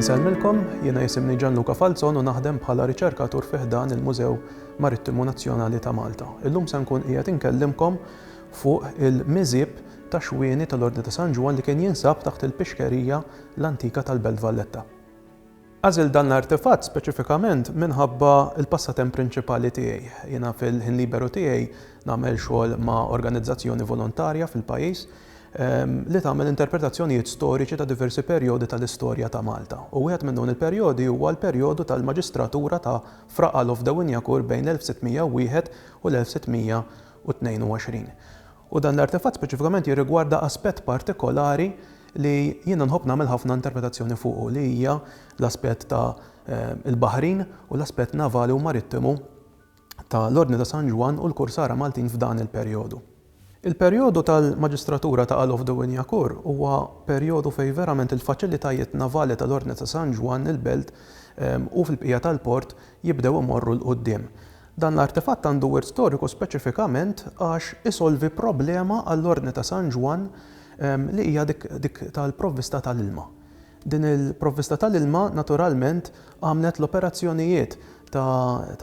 Insellmilkom, jiena jisimni Gianluca Falzon u naħdem bħala riċerkatur fi ħdan il-Mużew Marittimu Nazzjonali ta' Malta. Illum se nkun qiegħed inkellimkom fuq il-miżib ta' xwieni tal-Ordni ta' San Ġwan li kien jinsab taħt il-pixkerija l-antika tal-Belt Valletta. Għażilt dan l-artefatt speċifikament minħabba l-passatemp prinċipali tiegħi. Jiena fil-ħin liberu tiegħi nagħmel xogħol ma' organizzazzjoni volontarja fil-pajjiż li tagħmel interpretazzjonijiet storiċi ta' diversi perjodi tal-istorja ta' Malta u wieħed minn dawn il-perjodi huwa l-perjodu tal-maġistratura ta' Fra Alof Dewinjakur bejn l-1601 u l-1622. U dan l-artefatt speċifikament jirrigwarda aspett partikolari li jiena nħobb nagħmel ħafna interpretazzjoni fuqu li hija l-aspett ta' l-baħrin u l-aspett navali u marittimu ta' l-Ordni ta' San Ġwann u l-Kursara Maltin f'dan il-perjodu. Il-perjodu tal-Maġistratura ta' Alof de Wignacourt huwa perjodu fejn verament il-faċilitajiet navali ta' l-Ordni ta' San Ġwann il-Belt u fil-bqija tal-port jibdew imorru 'l quddiem. Dan l-artefatt għandu wirt storiku speċifikament għax isolvi problema għall-Ordni ta' San Ġwann li hija dik tal-provvista tal-ilma. Din il-provvista tal-ilma naturalment għamlet l-operazzjonijiet ta'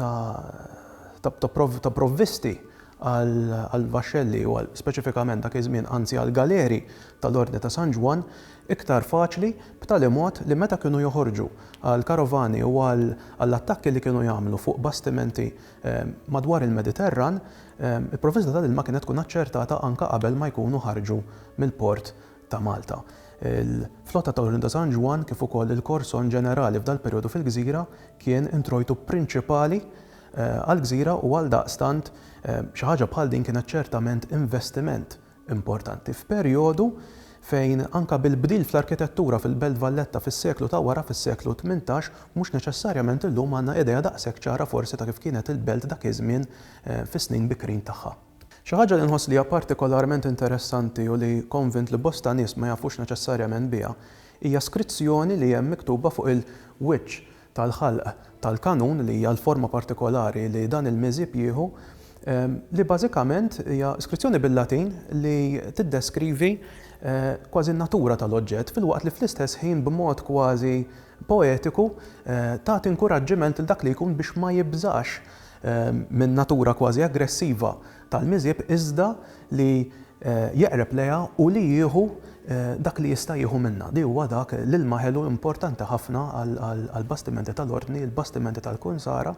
provvisti għall-vaxxelli u speċifikament dak iż-żmien anzi għall-galeri tal-Ordni ta' San Ġwann iktar faċli b'tali mod li meta kienu joħorġu għall-karovani u għall-attakki li kienu jagħmlu fuq bastimenti madwar il-Mediterran, il-provvista tal-ilma kienet tkun aċċertata anke qabel ma jkunu ħarġu mill-port ta' Malta. Il-flotta ta' Olinda San Ġwann kif ukoll il-korson ġenerali f'dal-perjodu fil-gżira kien introjtu prinċipali għall-gżira u għaldaqstant xi ħaġa bħal din kienet ċertament investiment importanti f'perjodu fejn anke bil-bdil fl-arkitettura fil-Belt Valletta fis-seklu ta' wara, fis-seklu tmintax, mhux neċessarjament illum għandna idea daqshekk ċara forsi ta' kif kienet il-belt dak iż-żmien fis-snin bikrin tagħha. Xi ħaġa li nħoss li hija partikolarment interessanti u li konvint li bosta nies ma jafux neċessarjament biha hija skrizzjoni li hemm miktuba fuq il-wiċċ tal-ħalq tal-kanun, li hija l-forma partikolari li dan il-miżjeb jieħu, li bażikament hija skrizzjoni bil-Latin li tiddeskrivi kważi n-natura tal-oġġett, filwaqt li fl-istess ħin b'mod kważi poetiku tagħti inkuraġġiment lil dak li jkun biex ma jibżax min-natura kważi aggressiva tal-miżieb iżda li jeqreb lejha u li jieħu dak li jista' jieħu minnha. Li huwa dak, l-ilma ħelu importanti ħafna għall-bastimenti tal-Ordni, il-bastimenti tal-Kunsara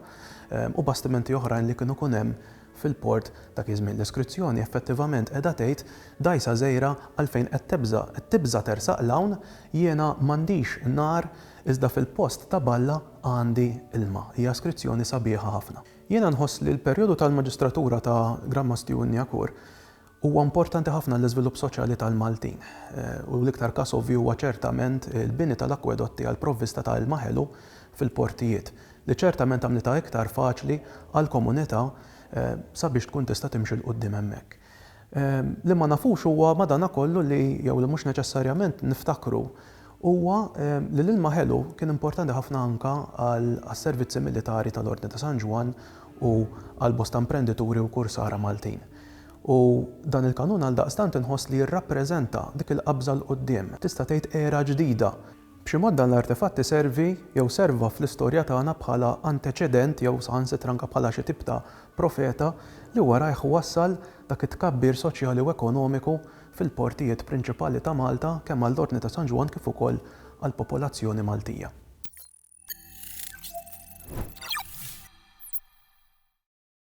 u bastimenti oħrajn li kienu jkun hemm fil-port dak iż-żmien. L-iskrizzjoni effettivament qiegħda tgħid, Dgħajsa żgħira, għalfejn qed tibża'? Qed tibża' tersaq 'l hawn? Jiena m'għandix nar iżda fil-post ta' balla għandi ilma. Hija skrizzjoni sabiħa ħafna. Jiena nħoss li l-perjodu tal-maġistratura ta' Gran Mastju Unniakur huwa importanti ħafna għall-iżvilupp soċjali tal-Maltin, u l-iktar każ ovvju huwa ċertament il-bini tal-akkwedotti għall-provvista ta' ilma ħelu fil-portijiet, li ċertament għamlitha iktar faċli għall-komunità sabiex tkun tista' timxi 'l quddiem hemmhekk. Li ma nafux huwa madanakollu li, jew li mhux neċessarjament niftakru, huwa li l-ilma ħelu kien importanti ħafna anke għas-servizzi militari tal-Ordni ta' San Ġwann u għal bosta imprendituri u kursara Maltin. U dan il-kanun għaldaqstant inħoss li jirrappreżenta dik il-qabża 'l quddiem, tista' tgħid era ġdida, B'xi mod dan l-artefatt iservi jew serva fl-istorja tagħna bħala anteċedent jew saħansitra anke bħala xi tip ta' profeta li warajh wassal dak it-tkabbir soċjali u ekonomiku fil-portijiet prinċipali ta' Malta kemm għall-Ordni ta' San Ġwann kif ukoll għall-popolazzjoni Maltija.